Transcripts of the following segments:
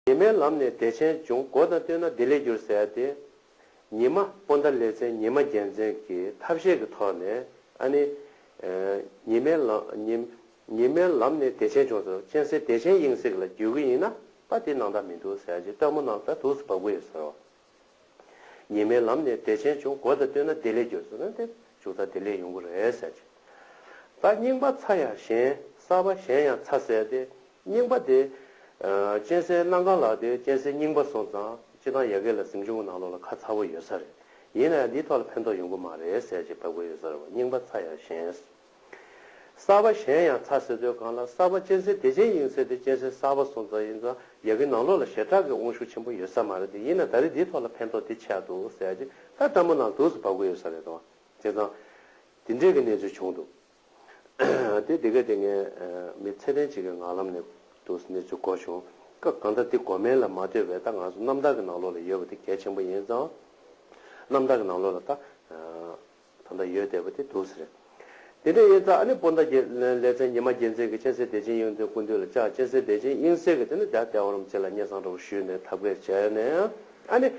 དེ་མའི་ལམ་ནས་བདེ་ཆེན་འབྱུང་སྒོ་དང་བསྟུན་ན་བདེ་ལེགས་འགྱུར་ཟེར་ཏེ། ཉི་མ་སྤོ་ཟླ་ལེ་ཚན་ཉི་མ་རྒྱལ་མཚན་གྱི་ཐབས་ཤེས་ཀྱི་ཐོག་ནས་ཨ་ནི། ཉི་མའི་ཉི་མའི་ལམ་ནས་བདེ་ཆེན་འབྱུང་སོ་སྤྱན་སྲེག་བདེ་ཆེན་དབྱིངས་སྲེག་ལ་འགྱུར་གྱི་ཡིན་ན་པ་དེ་ནང་ལྟར་མི་འདུག་ཟེར་གྱི་སྟོན་མོ་རྣམས་ལྟར་དུགས་སུ་བབ་ཀྱི་ཡོད་ཟེར་རོ། ཉི་མའི་ལམ་ནས་བདེ་ཆེན་འབྱུང་སྒོ་དང་བསྟུན་ན་བདེ་ལེགས་འབྱོར་ཟེར་ན་དེ་འབྱུང་རྩ་བདེ་ལེགས་ཡོང་གི་རེད་ཟེར་གྱི། ད་རྙིང་པ་ཚ་ཡང་ཞན་གསར་པ་ཞན་ཡང་ཚ་ཟེར་ཏེ་རྙིང་པ་དེ། གཅན་ཟའི་གནའ་མཁར་ལགས་དེ་གཅན་ཟའི་རྙིང་པ་སོང་ཙང་སྤྱི་བཏང་ཡལ་གས་ལ་གཟིམ་ཆུང་གི་ནང་ལོགས་ལ་ཁ་ཚ་བོ་ཡོད་ས་རེད་ཡིན་ན་ཡང་འདིའི་ཐོག་ལ་ཕན་ཐོགས་ཡོང་གི་མ་རེད་ཟེར་གྱི་བབས་གོ་ཡོད་ས་རེད་བ་རྙིང་པ་ཚ་ཡང་ཞན། གསར་པ་གཞན་ཡང་ཚ་ཟེར་དུས་གང་ལ་གསར་པ་གཅན་གཟན་བདེ་ཆེན་ཡིན་ཟེར་དུས་གཅན་གཟན་གསར་པ་སོང་ཙང་ཡིན་ཙང་རྒྱ་གི་ནང་ལོག་ལ་ཞེ་དྲག་གི་དབང་ཤུགས་ཆེན་པོ་ཡོད་ས་མ་རེད་དེ་ཡིན་ན་ད་རེས་འདིའི་ཐོག་ལ་ཕན་ཐོག་འདི་ཆགས་འདུག་ཟེར་ཡ་ཅི་ད་ལྟ་མོ་ནང་དུག་སུ་བབས་གི་ཡོད་ས་རེད་དོ། བྱས་ཙང། འདི་འདྲས་ཀྱི་གནས་ཚུལ་བྱུང་འདུག་དེ་དེ་ག་དེ་ངས་མི་ཚད་ལྡན་ཅིག་གི་ངག་ལམ་ནས་དུག་སུ་གནས་ཚུལ་གོ་བྱུང་སྐབས་གང་ལྟར་འདི་གོ་མིན་ལ་མ་ལྟོས་པའི་ད་ང་ཚོ་གནམ་བདག་གི་ནང་ལོག་ལ་ཡོད་པ་དེ་གལ་ཆེན་པོ་ཡིན་ཙང། གནམ་བདག་གི་ནང་ལོག་ལ་ད། ད་ལྟ་ཡོད་བསྡད་པ་དེ་དུས་ཟེར། དེ་འདྲའི་དབྱེ་རྩ་ཨ་ནི་སྤོ་མདའ་རྒྱལ། ལེ་ཚན་ཉི་མ་རྒྱལ་མཚན་གྱི་སྤྱན་གསལ་བདེ་ཆེན་དབྱིངས་དོན་ཀུན་འདུས་ལ་བཅག་སྤྱན་གསལ་བདེ་ཆེན་དབྱིངས་གསལ་གྱི་དེ་ནི་བརྒྱ་སྟེ་བ་རུམ་བཅས་ལ་སྙན་བཟང་འདྲ་བོ་ཞུས་ནས་ཐབས་མཁས་བྱས་ནས་ཨ་ནི།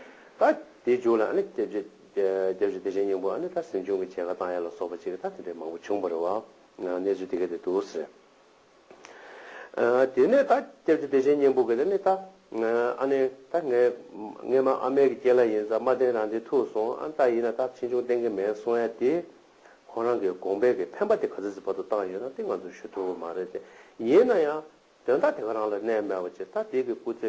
ད། དེའི་མཇུག་ལ་ཨ་ནི། སྐྱབས་རྗེ་བདེ་ཆེན་སྙིང་པོ་ཨ་ནི་ད་ཟིན་ཆུང་གི་བྱད་ཁ་བཏང་ཡས་ལ་སོགས་པ་བྱས་ཀྱི་ད་དེ་འདྲའི་མང་པོ་བྱུང་བ་རེད་བ། གནས་ཚུལ་དེ་ག་དེ་དུས་ཟེར། དེ་ནས་ད་སྐྱབས་ཀྱི་བདེ་ཆེན་སྙིང་པོ་གིས་དེ་ནི་ད་ཨ་ནི་ད་ངའི་ངའི་མ་ཨ་མའི་གི་སྐྱེ་ལ་ཡིན་ས་མ་བསྟན་རང་བདེ་ཐུག་སོང་ཨ་ད་ཡིན་ན་ད་ཕྱིས་འབྱུང་བསྟན་གི་མེད་གསུང་ཡ་དེ་ཁོང་རང་གི་དགོངས་པའི་གི་འཕེན་པ་དེ་ག་ཚོད་ཚོད་བར་དུ་བཏང་ཡོད་ན་དེ་ང་ཚོས་ཞུ་ཐུབ་མ་རེད་དེ་ཡིན་ན་ཡང་དོན་དག་དེ་ག་རང་ལ་གནས་མེད་པ་ཅི་ད་དེ་གི་སྐུ་ཚེ་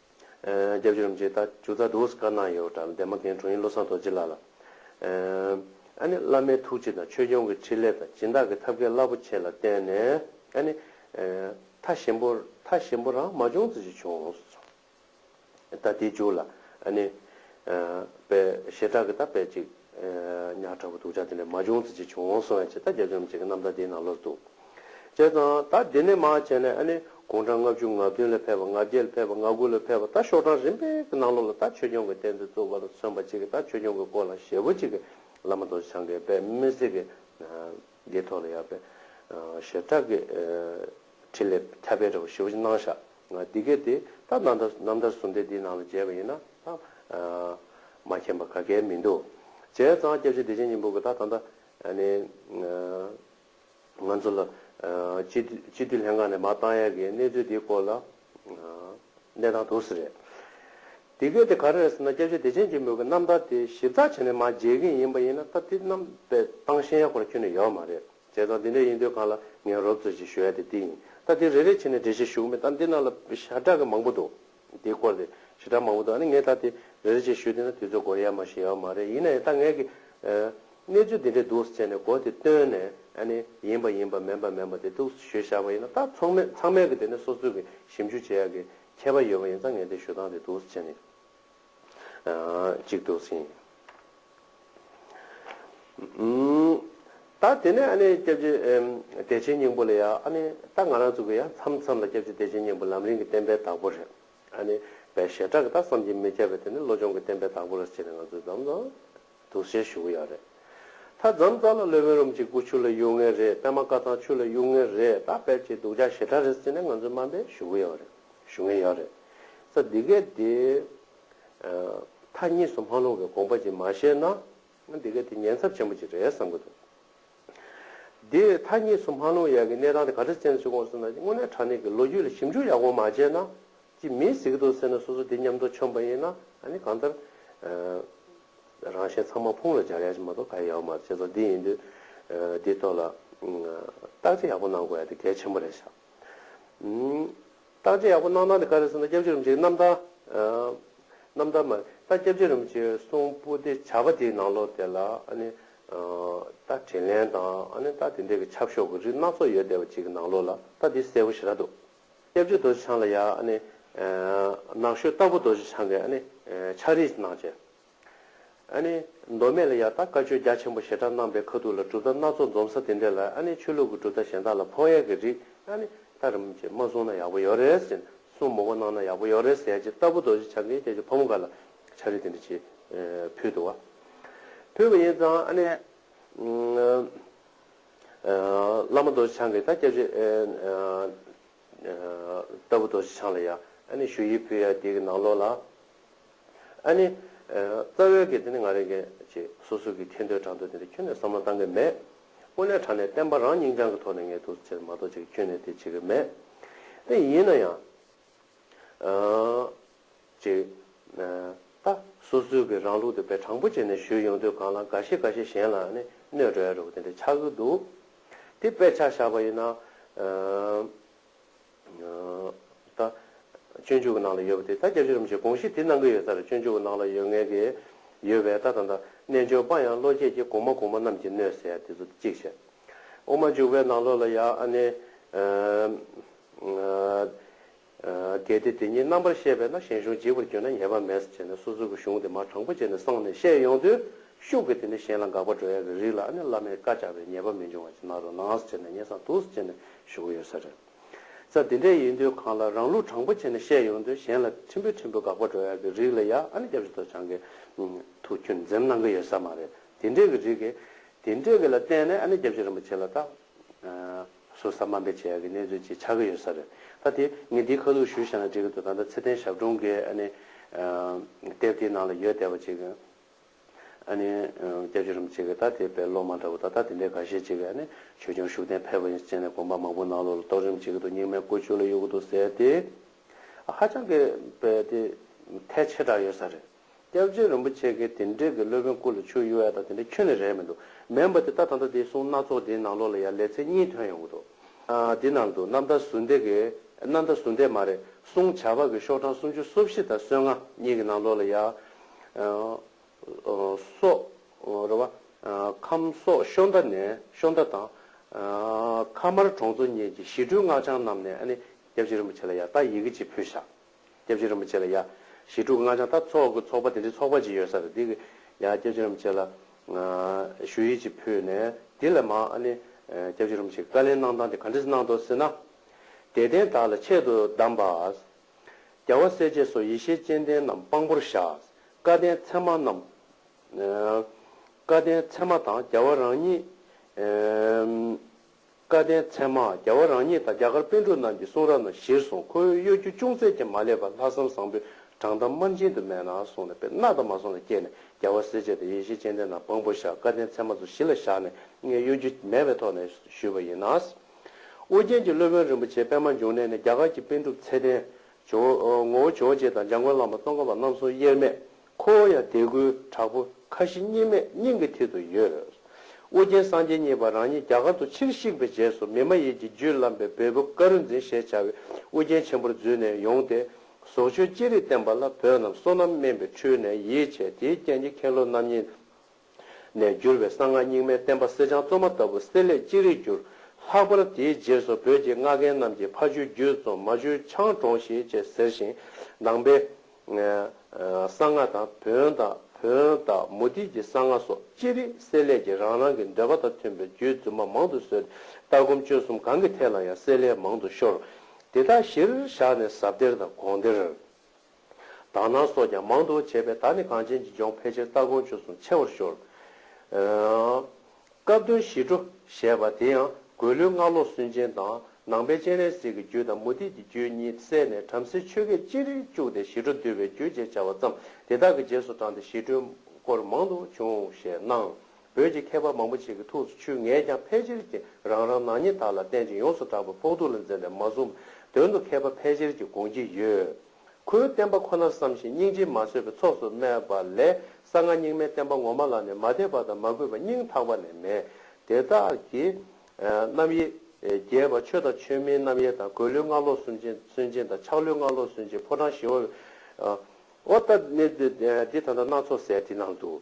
རྒྱབ་ཕྱི་རུམ་བྱེད་རྟ་ཅུ་རྩ་དུག་སྐར་ནག་ཡོ་གྲ་འདན་མ་རྒན་དྲུང་ཡིག་བློ་བཟང་རྡོ་རྗེ་ལགས་ལ། ཨ་ནི་བླ་མའི་ཐུགས་རྗེ་དང་ཆོས་སྐྱོང་གི་ཕྲིན་ལས་དང་སྦྱིན་བདག་གི་ཐབས་མཁས་རླབས་པོ་ཆེ་ལ་བརྟེན་ནས་ཨ་ནི། མཐའ་ཞིམ་པོ་མཐའ་ཞིམ་པོ་རང་མ་བྱུང་ཙི་ཅི་བྱུང། རྟ་དེའི་མཇུག་ལ་ཨ་ནི། པའི་ཞེ་དྲག་གི་རྟ་བད་ཅིག། ཉག་ཕྲ་བོ་དུག་ཆ་དེ་ནས་མ་བྱུང་ཚེ་ཅི་བྱུང་འོང་སོང་ཡང་ཇི་ལྟ་རྒྱ་འཛོམས་བྱེད་མཁན་རྣམས་ད་དེའི་ནང་ལོགས་སུ་འདུག། བྱས་ཙང་ད་དེ་ནས་མ་བྱས་ན་ཨ་ནི་དགུང་གྲངས་ལྔ་བཅུ་ང་བདུན་ལ་ཕེབས་པ་ང་བརྒྱད་ལ་ཕེབས་པ་ང་དགུ་ལ་ཕེབས་པ་ད་ཤོག་གྲངས་རིམ་པས་ཀྱི་ནང་ལོགས་ལ་ད་ཆོས་སྐྱོང་གི་གཏན་ཚིགས་བཙུགས་པ་ལ་མཚོན་པ་ཅིག་གིས་ད་ཆོས་སྐྱོང་གི་སྐོར་ལ་ཞལ་བོ་གཅིག་གིས་བླ་མ་རྡོ་རྗེ་འཆང་གི་པདྨའི་གསེར་གྱི་རྒྱལ་ཐོག་ལ་ཡར་པདྨ་ཞལ་གྲགས་ཀྱི། ཕྲིན་ལས་ཁྱབ་པས་རབ་ཞི་བ་སྣང་བཞག་ངང་འདི་སྐད་དེ་ལྟར་རྣམ་ཐར་རྣམ་ཐར་གསུམ་སྡེ་འདིའི་ནང་ལ་མཇལ་བ་ཡིན་ན་ལྷག་མ་མཁྱེན་པ་ག་གལ་མི་འདུག། བྱས་ཙང་སྐྱབས་རྗེ་བདེ་ཆེན་སྙིང་པོ་གི་ད་ལྟ་ནི། ང་ཚོ་ལ་སྤྱི་འཐུས་ལྷན་ཁང་ནས་མ་བཏང་ཡས་ཀྱི་གནས་ཚུལ་འདིའི་སྐོར་ལ་གནས་སྟངས་དུ་སི་རེད། དེ་སྐད་དེ་ག་རེ་རེད་ཟེར་ན་སྐྱབས་རྗེ་བདེ་ཆེན་སྙིང་པོ་གི་རྣམ་ཐར་དེ་ཞིབ་ཚགས་བྱས་ནས་མ་མཇལ་མཁན་ཡིན་པ་ཡིན་ན་ད་དེ་རྣམ་པས་སྟངས་ཤེས་ཡག་པོ་ར་ཁྱོན་ནས་ཡོད་མ་རེད། བྱས་ཙང་དེ་འདྲ་ཡིན་དུས་གང་ལ་ངས་རོབ་ཚོད་ཅིག་ཞུ་ཡ་དེ་དེ་ཡིན་ད་དེ་རེ་རེ་བྱས་ནས་འགྲེལ་བཤད་ཞུ་གི་མེད་ད་འདི་ནང་ལ་ཞྭ་སྒྲ་གི་མང་པོ་འདུག་དེའི་སྐོར་དེ་ཞི་དྲག་མང་པོ་འདུག་ཨ་ནི་ངས་ད་དེ་རེ་རེ་བྱས་ཞུ་དེ་ན་དུས་ཚོད་འགོར་ཡ་མ་ཞིག་ཡའོ་མ་རེད་ཡིན་ན་ཡང་ད་ངས་ཀི་གནས་ཚུལ་དེ་འདྲ་འདུག་ཟེར་ནས་གོ་དེ་བཏོན་ནས་ཨ་ནི་ཡིན་པ་ཡིན་པ་མེན་པ་མེན་པ་དེ་ཐུགས་སུ་ཞུས་བཞག་པ་ཡིན་ན་ད་ཚོང་མས་ཚང་མས་ཀི་དེ་ནས་སོ་སོས་ཀི་ཞིབ་འཇུག་བྱེད་ཡ་ཀི་ཁྱད་པ་ཡོད་པ་ཡིན་ཙང་ངས་དེ་ཞུ་སྟངས་དེ་འདུག་ཟེར་ནས། ཅིག་འདུག་ཟིན། ད་དེ་ནས་ཨ་ནེ་སྐྱབས་རྗེ་བདེ་ཆེན་སྙིང་པོ་ལ་ཡང་ཨ་ནེ་ད་ང་རང་ཚོ་གི་ཡང་མཚམས་མཚམས་ལ་སྐྱབས་རྗེ་བདེ་ཆེན་སྙིང་པོ་ལམ་རིང་གི་བསྟན་པའི་བདག་པོ་རེད་ཨ་ནེ་བའི་ཞེ་དྲག་གི་ད་བསམ་གྱིས་མི་ཁྱབ་པའི་དེ་ནི་བློ་སྦྱོང་གི་བསྟན་པའི་བདག་པོ་རེད་ཅེས་ནས་ང་ཚོས་འཛམ་བཟང་དུ་ཟེར་ཞུ་གི་ཡག་རེད། ད་རྫམ་རྩ་ལ་ལོས་བོད་རུམ་གྱི་སྐུ་ཆུ་ལ་གཡུག་ངེས་རེད་པད་མ་དཀར་ཐང་ཆུ་ལ་གཡུག་ངེས་རེད་ད་བེད་ཀྱི་སྡུག་ཅག་ཞེ་དྲག་རེད་ཟེར་ནས་ང་ཚོས་དམའ་འབེབས་ཞུ་གི་ཡག་རེད་ཞུ་ངེས་ཡག་རེད། ས་འདི་གས་དེ། མཐའ་གཉིས་སུ་མ་ལྷུང་བའི་དགོངས་པ་ཅིག་མ་བཞེས་ན། འདི་གས་དེ་ཉེན་ཚབས་ཆེན་པོ་ཅིག་རེད་བསམ་གི་འདུག་དེ། མཐའ་གཉིས་སུ་མ་ལྷུང་ཡག་གི་གནས་སྟངས་དེ་ག་རེ་བཙན་ཟུར་དགོངས་ཟེར་ན་དངོས་གནས་དྲ་གནས་ཀྱི་ལོ་རྒྱུས་ལ་ཞིབ་འཇུག་ཡག་པོ་མ་བྱས་ན། ཅིག་མི་གཟིགས་གི་འདུག་ཟེར་ན་སོ་སོ་འདི་མཉམ་དུ་ཆོམ་པ་ཡིན་ན་ཨ་ནི་གང་ལྟར་རང་གཞན་ཚང་མ་ཕུང་ལ་སྦྱར་ཡག་ཅིག་མ་གཏོགས་ག་ཡི་ཡག་པོ་མ་རེད་བྱས་ཙང་འདི་ཡིན་དུས་འདིའི་ཐོག་ལ་བརྟག་དཔྱད་ཡག་པོ་གནང་དགོས་ཡ་དེ་གལ་ཆེན་པོ་རེད་བཞག་བརྟག་དཔྱད་ཡག་པོ་གནང་ན་དེ་ག་རེད་ཟེར་ན་སྐྱབས་རྗེ་རིན་པོ་ཆེ་གི་རྣམ་ཐར་རྣམ་ཐར་མ་རེད་ད་སྐྱབས་རྗེ་རིན་པོ་ཆེ་གསུང་སྤུ་དེ་བྱ་བ་དེའི་ནང་ལོགས་དེ་ལ་ཨ་ནི་ད་དྲིན་ལན་དང་ཨ་ནི་ད་དེ་འདྲས་ཀྱི་ཆབ་ཤོག་གི་རིགས་སྣ་ཚོགས་ཡོད་བསྡད་པ་ཅིག་གི་ནང་ལོགས་ལ་ད་འདི་གསལ་བོ་ཞེ་དྲག་འདུག། སྐྱབས་རྗེ་རྡོ་རྗེ་འཆང་ལ་ཡང་ནགས་ཤོད་སྟག་ཕུ་རྡོ་རྗེ་འཆང་གིས་ཕྱག་རིས་གནང། མདོ་སྨད་ལ་ཡང་དག་བཀའ་ཆོས་རྒྱ་ཆེན་པོ་ཞེ་དྲག་གནང་པའི་ཁ་ཐུག་ལ་གྲུབ་མཐའ་སྣ་ཚོགས་འཛོམས་ས་དེ་འདྲ་ལ་ཆོས་ལུགས་ཀྱི་གྲུབ་མཐའ་གཞན་དག་ལ་ཕོག་ཡས་ཀྱི་རིགས་ལྟར་མ་གསུངས་ན་ཡག་པོ་ཡོད་རེད་ཟེར་གསུངས་མོ་གོ་གནང་ན་ཡག་པོ་ཡོད་རེད་ཟེར་རྗེས་སྟག་ཕུ་རྡོ་རྗེ་འཆང་གིས་ཁྱེད་ཀྱི་ཕོ་མོ་འགའ་ལ་ཕྱག་རིས་དེ་འདྲ་བྱེད་ཕུལ་འདུག་བ། ཕུལ་བ་ཡིན་ཙང། བླ་མ་རྡོ་རྗེ་འཆང་གིས་ད་སྐྱབས་རྗེ་ལྟ་བུ་རྡོ་རྗེ་འཆང་ལ་ཡང་ཞུ་ཡིག་ཕུལ་ཡང་དེའི་ནང་ལོགས་ལ། རྩ་བའི་གེ་དེ་ནི་ང་རེ་འགས་ཅེས་སོ་སོ་གིས་མཁྱེན་འདོད་དྲང་འདོད་དེ་འདྲ་ཁྱོན་ནས་བསམ་བློ་བཏང་གི་མེད། དངོས་གནས་དྲང་ནས་བསྟན་པ་རང་སྙིང་བཅངས་ཀྱི་ཐོག་ནས་ངས་ཐུགས་ཆེར་མ་གཏོགས་ཅིག་ཁྱོན་ནས་དེ་བྱེད་ཀྱི་མེད། ཡིན་ན་ཡང། ཅེས། ད་སོ་སོའི་གི་རང་ལུགས་དེ་བས་དྲང་པོ་བྱས་ནས་ཞུས་ཡོང་དུས་གང་ལ་དགའ་ཤེས་དགའ་ཤེས་གཞན་ལ་ནི་གནོད་འགྲོ་ཡ་རུག་དེ་འདྲ་ཆགས་ཀྱི་འདུག་དེ་དཔེ་ཆ་བཞག་པ་ཡིན་ན། ད། སྤྱོད་འཇུག་གི་ནང་ལ་ཡོད་པ་དེ་ད་རྒྱབ་ཕྱི་རུམ་བྱེད་དགོངས་གཞི་དེ་གནང་གི་ཡོད་ས་རེད་སྤྱོད་འཇུག་གི་ནང་ལ་ཡོད་ངེས་ཀྱི་ཡོད་བས་ད་ད་ད་རྣལ་འབྱོར་པ་ཡང་བློ་སྐྱེད་ཀྱི་གོང་མ་གོང་མ་རྣམས་ཀྱིས་གནོད་ཟེར་ཡ་དེ་ཚོ་དེ་གཅིག་བྱས། དབུ་མ་འཇུག་པའི་ནང་ལོགས་ལ་ཡང་ཨ་ནི། གལ་ཏེ་དེ་ཉིད་རྣམ་པར་ཤེས་པས་ན་ཞིང་གཞུང་འཇིག་པར་གྱུར་ན་ཉེས་པ་མེད་ཟེར་ནས་སོ་སོ་གི་གཞུང་དེ་མ་དྲང་པོ་བྱས་ནས་གསང་ནས་བཤད་ཡོང་དུས་ཤུགས་ཀྱིས་དེ་ནི་གཞན་ལ་འགག་པ་འགྲོ་ཡ་གི་རིགས་ལ་ཨ་ནི་བླ་མའི་བཀའ་བཅག་པས་ཉེས་པ་མི་འབྱུང་བ་ཅི་ན་རོ་ནའང་ཟེར་ནས་ཉེས་གསང་དུག་གསུ་བྱས་ནས་བཞུགས་ཀྱི་ཡོད་ས་རེད། ས་འདི་འདྲའི་ཡིན་དུས་གང་ལ་རང་ལུགས་དྲང་པོ་བྱས་ནས་བཤད་ཡོང་དུས་གཞན་ལ་ཁྲིམས་པོའི་ཁྲིམས་པོ་འགག་པ་འགྲོ་ཡ་གི་རིགས་ལ་ཡ་ཨ་ནི་སྐྱབས་སུ་དོ་བྱང་གི་ཐུགས་ཁྱོད་འཛེམ་གནང་གི་ཡོད་ས་མ་རེད་དེ་འདྲའི་གི་རིགས། དེ་འདྲའི་གི་ལ་བརྟེན་ནས་ཨ་ནི་སྐྱབས་སྦྱོད་རིན་པོ་ཆེ་ལ་ད། ཟུར་ཟ་དམའ་འབེབས་བྱས་ཡག་གི་གནས་ཚུལ་ཅིག་ཆགས་ཀྱི་ཡོད་ས་རེད་ད་དེ་ངས་འདིའི་ཁ་ལུགས་ཞུ་བཞག་ན་འགྲིག་གི་འདུག་ད་ལྟ་ཚེ་ཏན་ཞབས་དྲུང་གི་ཨ་ནི་དེབ་དེའི་ནང་ལ་ཡོད་བསྡད་པ་ཅིག་ཨ་ནི་སྐྱབས་རྗེ་རིན་པོ་ཆེ་གི་ད་དེ་དཔེ་ཀློག་མ་འདྲ་བོ་ད་ལྟ་དེ་འདྲའི་ག་ཤེད་ཅིག་ཨ་ནི་ཆོས་སྐྱོང་ཤུགས་ལྡན་ཕེབས་པ་ཡིན་ཅེས་ནས་དགོངས་པ་མང་པོ་གནང་ལོ་ལ་རྟོགས་རིམ་བྱེད་ཀྱི་འདུག་རྙིང་མའི་ཀུ་ཅོ་ལ་གཡུག་གི་འདུག་ཟེར་ཏེ་ཧ་ཅང་གི་དཔེ་དེ་ཐལ་ཆེ་དྲགས་ཡོད་ས་རེད། སྐྱབས་རྗེ་རིན་པོ་ཆེ་གིས་དེ་འབྲེལ་གྱི་སློབ་དཔོན་སྐུ་ལ་ཆུ་གཡོ་ཡ་དང་དེ་འདྲ་ཁྱོད་ནས་རེད་མི་འདུག་མེད་འབའ་དེ་ལྟ་ད་ལྟ་དེའི་གསུང་སྣ་ཚོགས་དེའི་ནང་ལོགས་ལ་ཡང་ལས་ཚེ་གཉིས་དོན་ཡོང་གི་འདུག་དེའི་ནང་དུ་གནམ་བདག་ཟུར་འདེགས་ཀྱི། གནམ་བདག་ཟུར་འདེགས་མ་རེད་གསུང་བྱ་བ་གི་ཤོག་གྲངས་སུམ་ཅུ་སོ་བཞི་དང་སོ་ལྔ་གཉིས་ཀྱི་ནང་ལོགས་ལ་ཡང། སོག། རེད་བ། ཁམས་སོག་ཤོ་མདའ་ནས་ཤོ་མདའ་དང། ཁ་དམར་གྲོང་ཚོ་གཉིས་ཀྱི་ཞི་ཁྲོའི་སྔགས་འཆང་རྣམས་ནས་ཨ་ནི་སྐྱབས་རྗེ་རིན་པོ་ཆེ་ལ་ཡང་ད་ཡི་གེ་གཅིག་ཕུལ་བཞག་སྐྱབས་རྗེ་རིན་པོ་ཆེ་ལ་ཡ། ཞི་ཕྲུག་སྔགས་འཆང་ལྟ་ཚོགས་ཀྱི་ཚོགས་པ་དེ་འདྲའི་ཚོགས་པ་ཅིག་ཡོད་ས་རེད་འདི། ཡ། སྐྱབས་རྗེ་རིན་པོ་ཆེ་ལ། ཞུ་ཡིག་ཅིག་ཕུལ་ནས་འདི་ལས་མང་ཨ་ནི། སྐྱབས་རྗེ་རིན་པོ་ཆེ་བཀའ་ལན་གནང་སྟངས་དེ་ག་འདྲས་གནང་འདུག་ཟེར་ན། དད་ལྡན་དག་ལ་ཆེད་དུ་གདམས་པ། རྒྱལ་བ་སྲས་བཅས་སོགས་ཡེ་ཤེས་སྤྱན་ལྡན་རྣམས་དཔང་པོར་བཞག། བཀའ་བསྟན་ཚད་མ་རྣམས། བཀའ་བསྟན་ཚད་མ་དང་རྒྱལ་བ་རང་ཉིད། བཀའ་བསྟན་མཚན་མ་རྒྱལ་བ་རང་ཉིད་དང་རྒྱ་གར་དཔོན་དྲུག་རྣམས་ཀྱི་གསུང་རབ་རྣམས་གཞིར་བཟུང་ཁོ་བོའི་གཡོ་སྒྱུ་ཅུང་ཟད་ཀྱང་མ་བསླད་པར་ལྷག་བསམ་བཟང་པོས་དྲང་གཏམ་དམར་འབྱིན་དུ་མེད་ན་གསུང་ལ་དཔེར་ན་དར་མ་ཟུང་ལ་བསྐྱལ་ནས་རྒྱལ་བ་སྲས་བཅས་དང་ཡེ་ཤེས་སྤྱན་ལྡན་རྣམས་དཔང་པོར་བཞག་བཀའ་བསྟན་མཚན་མ་ཚུལ་བཞི་ལ་བཞག་ནས་ངས་གཡོ་སྒྱུ་མེད་པའི་ཐོག་ནས་ཞུས་པ་ཡིན། ཨོ་རྒྱན་གྱི་སློབ་དཔོན་རིན་པོ་ཆེ་པད་མ་འབྱུང་གནས་ནས་རྒྱ་གར་གྱི་དཔོན་གྲུབ་ཚེ་བརྟན། ཇོ་བོ། ངོ་བོ་ཇོ་བོ་རྗེ་དང་འཇམ་མགོན་བླ་མ་སྟོང་ཁམས་པ་རྣམ་གསུམ་དབྱེར་མེད་ཁོ་བོ་ཡང་དད་གུས་དྲག་པོ་ཁ་ཞེ་གཉིས་མེད་སྙིང་གི་མཐིལ་དུ་ཡོད། ཨོ་རྒྱན་སངས་རྒྱས་གཉིས་པ་རང་ཉིད་རྒྱ་གར་དུ་ཕྱིར་གཤེགས་པའི་རྗེས་སུ་མི་མ་ཡིན་གྱི་རྒྱུད་བླངས་པའི་བལ་པོ་ཀ་རུ་འཛིན་ཞེས་བྱ་བའི་ཨོ་རྒྱན་ཆེན་པོར་བརྫུས་ནས་ཡོང་སྟེ། ཟོག་ཆོས་ཅི་རིགས་བསྟན་པ་ལ་བོད་རྣམས་བསོད་ནམས་དམན་པའི་འཕྲུལ་ནས་ཡིད་ཆེས་དེའི་རྐྱེན་གྱིས་མཁན་སློབ་རྣམ་གཉིས། ནས་བསྒྱུར་བའི་གསང་སྔགས་རྙིང་མའི་བསྟན་པ་གསེར་སྦྱངས་བཙོ་མ་ལྟ་བུ་གསེར་ལས་ཅི་རིགས་བསྒྱུར། ལྷག་པར་དེའི་རྗེས་སུ་བོད་ཀྱི་སྔགས་མཁན་རྣམས་ཀྱིས་ཕ་ཆོས་བརྒྱུད་བཙོ་མ་ཆོས་འཆང་དྲོངས་ཤིག་ཅེས་ཟེར་ཞིང། ནང་པའི། གསང་སྔགས་དང་བོན་དང་བོན་དང་མུ་ཏིག་གི་གསང་སྔགས་སོགས་ཅི་རིགས་གསེར་ལས་ཀྱི་རང་རང་གི་འདོད་པ་དང་མཐུན་པའི་རྒྱུད་རྫུན་མ་མང་དུ་བཟོས་ཏེ་ལྟ་སྒོམ་སྤྱོད་གསུམ་གང་གི་ཐད་ལ་ཡང་གསེར་ལས་མང་དུ་ཤོར། དེ་དག་གཞིར་བཞག་ནས་ཟབ་གཏེར་དང་དགོངས་གཏེར། དག་སྣང་སོགས་ཀྱང་མང་དུ་བྱས་པས་ད་ནི་གངས་ཅན་གྱི་ལྗོངས་ཕལ་ཆེར་སྟ་གོན་ཆོས་སུ་མཆེད་བར་ཤོར། སྐབས་དོན་ཞི་ཁྲོ་ཞེས་པ་དེ་ཡང་འགོས་ལོའི་སྔ་ལོ་སུན་འབྱིན་དང་ནང་པའི་སྤྱན་རས་གཟིགས་ཀྱི་རྒྱུད་དང་མུ་ཏིག་གི་རྒྱུད་གཉིས་བསྲེས་ནས་བྲམ་ཟེའི་ཆོས་སྐད་ཅིག་རིག་བཅུག་སྟེ་ཞི་ཁྲོ་འདུལ་བའི་རྒྱུད་ཅེས་བྱ་བ་བརྩམས་དེ་དག་གི་རྗེས་སུ་འབྲངས་ཏེ་ཞི་ཁྲོའི་སྐོར་མང་དུ་བྱུང་ཞེས་སྣང། བོད་ཀྱི་མཁས་པ་མང་པོ་ཞིག་གི་ཐུགས་སུ་ཆུད་ངས་ཀྱང་ཕལ་ཆེར་གྱིས་རང་རང་ནག་ཉེས་དག་ལ་བརྟེན་ཅིང་ཡོངས་སུ་གྲགས་པའི་ཕོག་ཐུག་ལ་འཛེམས་པས་མ་བཟུང། དོན་དུ་མཁས་པ་ཕལ་ཆེར་གྱིས་དགོངས་ཀྱི་ཡོད། ཁོའི་བསྟན་པ་ཁོ་ནར་བསམ་ཞིང་སྙིང་རྗེས་མ་བཟོད་པའི་ཚོགས་སུ་སྨྲས་པ་ལས་གསང་སྔགས་རྙིང་མའི་བསྟན་པ་ངོ་མ་ལ་ནི་མ་དད་པ་དང་མ་གུས་པ་སྙིང་ཐག་པ་ནས་མེད། དེ་དག་གིས། རྣམ་དབྱེ། རྒྱས་པ་ཆོས་དང་ཆོས་མིན་རྣམ་དབྱེ་དང་གོས་ལུས་སྔགས་ལོག་སུན་འབྱིན་སུན་འབྱིན་དང་ཆགས་ལུས་སྔགས་ལོག་སུན་འབྱིན་ཕོ་བྲང་བཞི་བ། ཨོ། ད་ནི་འདི་ད་ལྟ་སྣ་ཚོགས་ཟེར་དེ་སྣང་དུ།